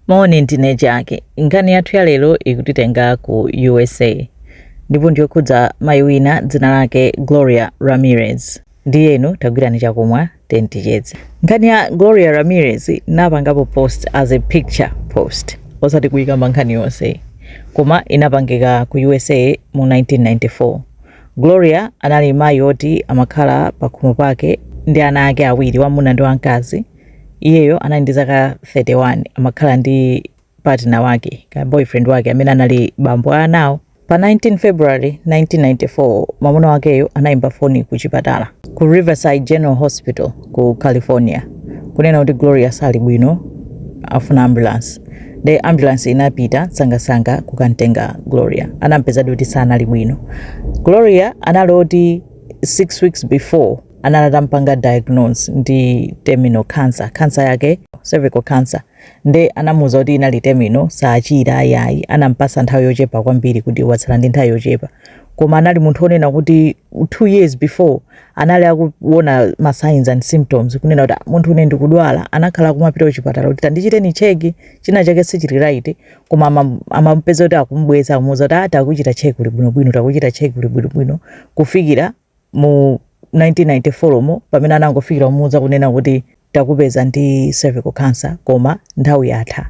Moni, ndine Jaki. Nkhani yathu ya lero ikutitenga ku usa ndipo ndiyokhudza mayi wina dzina lake Gloria Ramirez. Ndiyeno tagwirani chakumwa tiyeni ticheze. Nkhani ya Gloria Ramirez ndinapangapo post as a picture post, osati kuikamba nkhani yonse, koma inapangika ku usa mu 1994. Gloria anali mayi oti amakhala pakhomo pake ndi ana ake awiri, wamuna ndi wamkazi. iyeyo anali ndi zaka 31 amakhala ndi partner wake ka boyfriend wake amene anali bambo a anawo pa 19 february 1994 mwamuna wakeyo anayimba foni ku chipatala ku riverside general hospital ku california kunena kuti gloria sali bwino akufuna ambulance nde ambulance inapita msangamsanga kukamtenga gloria anampezadi kuti sanali bwino gloria anali oti 6 weeks before anali atampanga diagnose ndi terminal cancer cancer yake cervical cancer nde anamuuza kuti inali terminal saachira ayayi anampasa nthawi yochepa kwambiri kuti watsala ndi nthawi yochepa koma anali munthu onena kuti two years before anali akuona ma signs and symptoms kunena kuti "Ah, munthune ndikudwala anakhala akumapita kuchipatala kuti tandichiteni cheki china chake sichili right koma ama- amapeza kuti akumubweza akumuuza kuti ati takuchita cheki uli bwinobwino takuchita cheki uli bwinobwino kufikira mu 1994 mo pamene anangofikira kumuuza kunena kuti takupeza ndi cervical cancer koma nthawi yatha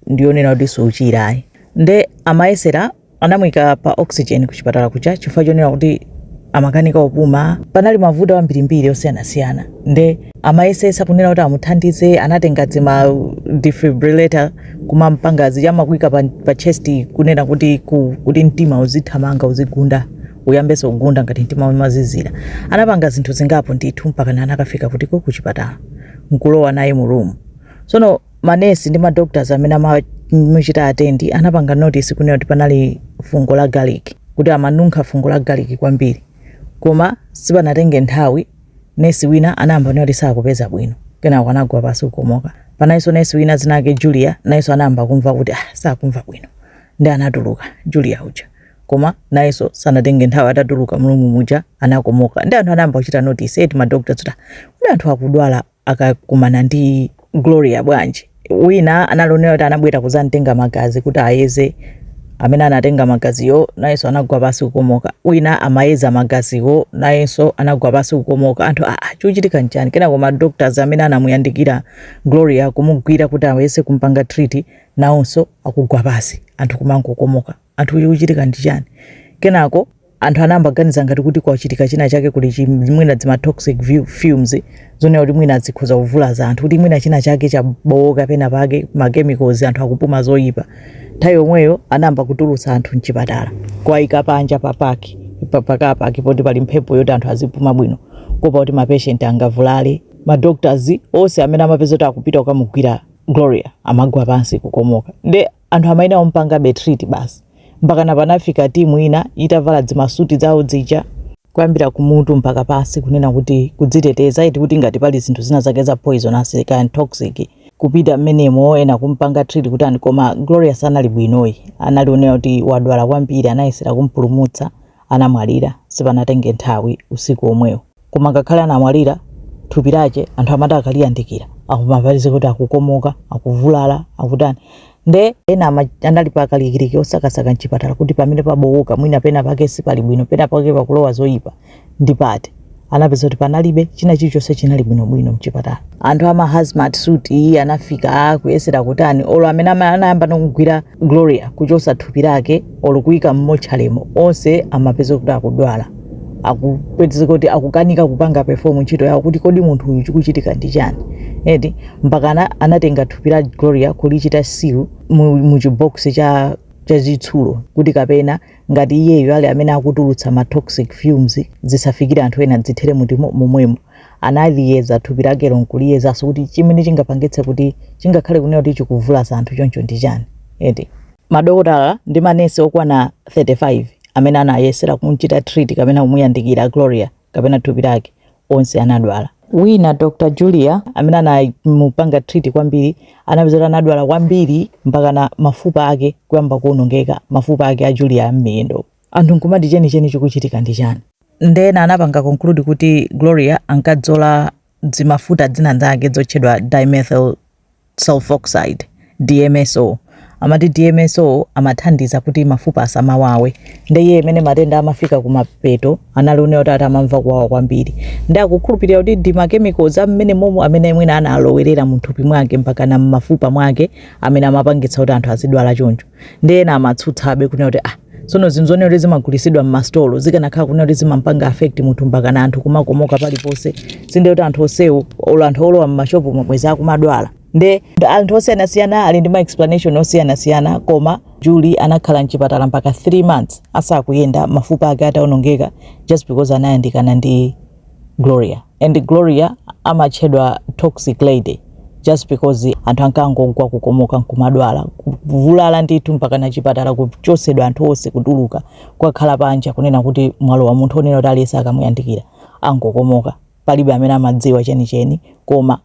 ndiyonena kuti suchira ayi nde amayesera anamuyika pa oxygen ku chipatala kuja chifukwa chonena kuti amakanika kupuma panali mavuto ambirimbiri osiyanasiyana nde amayesesa kunena kuti amuthandize anatenga zima defibrillator kumampanga zija amakuika pa, pa chest kunena kuti ku, kuti mtima uzithamanga uzigunda uyambenso kugunda ngati mtima umazizira. Anapanga zinthu zingapo ndithu mpakana anakafika kutiku kuchipatala nkulowa naye mu room. Tsono manesi ndi madoctors amene amamuchita atendi anapanga notice kunena kuti panali fungo la garlic, kuti amanunkha fungo la garlic kwambiri. Koma sipanatenge nthawi nesi wina anayamba kunena kuti sakupeza bwino, kenako anagwa pansi kukomoka. Panalinso nesi wina dzina lake Julia, nayenso anayamba kumva kuti ah sakumva bwino, ndiye anatuluka Julia uja. koma nayeso sanatenge nthawi atatuluka mrumu muja anakomoka nde anthu anayamba kuchita notice eti ma doctors kuti kuti anthu akudwala akakumana ndi gloria bwanji wina anali onena kuti anabwera kuzamtenga magazi kuti ayeze amene anatenga magaziwo nayenso anagwa pasi kukomoka wina amayeza magaziwo nayenso anagwa pasi kukomoka anthu aa ah, chochitika nchani kenako ma doctors amene anamuyandikira gloria kumugwira kuti ayese kumpanga treat nawonso akugwa pasi anthu kumangokomoka anthu chikuchitika ndi chani? Kenako anthu anayamba kuganiza ngati kuti kwachitika china chake kuli, mwina dzima toxic fumes zonena kuti mwina zikhoza kuvulaza anthu kuti mwina china chake chabowoka pena pake ma chemicals anthu akupuma zoyipa. Nthawi yomweyo anayamba kutulutsa anthu mchipatala kuwayika panja pa park pa pa car park poti pali mphepo kuti anthu azipuma bwino kuopa kuti ma patient angavulale. Ma doctors onse amene amapeza kuti akupita kukamugwira Gloria amagwa pansi kukomoka. Nde anthu amayenera kumupangabe treat basi mpakana panafika timu ina itavala dzimasuti dzawo dzija kuyambira kumutu mpaka pasi kunena kuti kudziteteza iti kuti ngati pali zinthu zina zake za poison asi- kaya toxic kupita mmenemo ena kumpanga treat kuti ani koma Gloria sanali bwinoyi anali onena kuti wadwala kwambiri anayesera kumpulumutsa anamwalira sipanatenge nthawi usiku omwewo koma ngakhale anamwalira thupi lache anthu amati akaliyandikira akumapezeka kuti akukomoka akuvulala akutani nde ena anali pa kalikiliki kusakasaka mchipatala kuti pamene pabowoka mwina pena pake sipali bwino pena pake pakulowa zoyipa ndi pati anapeza kuti panalibe china chilichonse chinali bwinobwino mchipatala anthu ama hazmat suit aja anafika kuyesera kutani olo amene ama- anayamba nokugwira gloria kuchosa thupi lake olo kuyika mmotchale mo onse amapeza kuti akudwala akupezeka kuti akukanika kupanga perform ntchito yawo kuti kodi munthu uyu chikuchitika ndi chani eti mpakana anatenga thupi la gloria kulichita seal mu, mu chibokosi chachitsulo kuti kapena ngati iyeyo ali amene akutulutsa ma toxic fumes zisafikire anthu ena dzithere mutimo momwemo analiyeza thupi lakelo nkuliyezaso kuti chimene chingapangitse kuti chingakhale kunena kuti chikuvulaza anthu choncho ndi chani eti madokotala ndi manesi okwana 35 amene anayesera kumchita treat kapena kumuyandikira gloria kapena thupi lake, onse anadwala. Wina, Dr. Julia, amene anamupanga treat kwambiri, anapeza kuti anadwala kwambiri mpakana mafupa ake kuyamba kuonongeka, mafupa ake a Julia m'miyendo. Anthu nkumati chenicheni chikuchitika ndi chani? Nde ena anapanga conclude kuti Gloria ankadzola dzimafuta dzina dzake dzotchedwa dimethyl sulfoxide, DMSO. Amati DMSO amathandiza kuti mafupa asamawawe. Nde iye imene matenda amafika kumapeto anali onena kuti ati amamva kuwawa kwambiri. Nde akukhulupirira kuti ndi makemikozi amene momo amene mwina analowerera mthupi mwake mpakana m'mafupa mwake amene amapangitsa kuti anthu azidwala choncho. Nde ena amatsutsabe kunena kuti ah, sono zinthu zonena kuti zimagulitsidwa m'masitolo zikanakhala kunena kuti zimampanga affect munthu mpakana anthu kumakomoka paliponse sinde kuti anthu onsewo olo anthu olowa m'mashopu mo bwezi akumadwala nde anthu osiyanasiyana ali ndi ma explanation osiyanasiyana koma Julie anakhala mchipatala mpaka 3 months asakuyenda mafupa ake ataonongeka just because anayandikana ndi Gloria. And Gloria amatchedwa toxic lady just because anthu ankangogwa kukomoka nkumadwala kuvulala ndithu mpaka na chipatala kuchosedwa anthu onse kutuluka kukakhala panja kunena kuti mwalowa munthu onena kuti aliyese akamuyandikira angokomoka palibe amene amadziwa chenicheni koma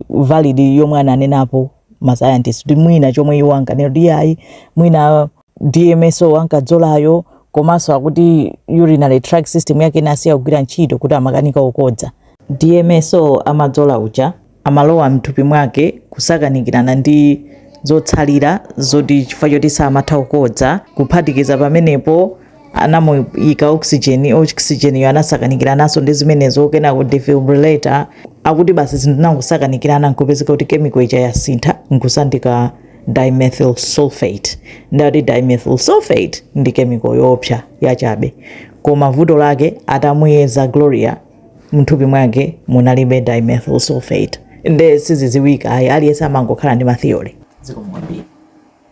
valid yomwe ananenapo ma scientists kuti mwina chomwe iwo ankanena kuti ayi mwina DMSO ankadzolayo komanso akuti urinary tract system yake inasiya kugwira ntchito kuti amakanika kukodza DMSO amadzola uja amalowa mthupi mwake kusakanikirana ndi zotsalira zoti chifukwa choti samatha kukodza kuphatikiza pamenepo anamuyika oxygen oxygen yo anasakanikirananso ndi zimenezo kenako defibrillator akuti basi zinthu zinangosakanikirana nkupezeka kuti chemical ija yasintha nkusanduka dimethyl sulfate ndati dimethyl sulfate ndi chemical yoopsa yachabe koma vuto lake atamuyeza gloria mthupi mwake munalibe dimethyl sulfate nde siziziwika ayi aliyense amangokhala ndi matheory zikomo kwambiri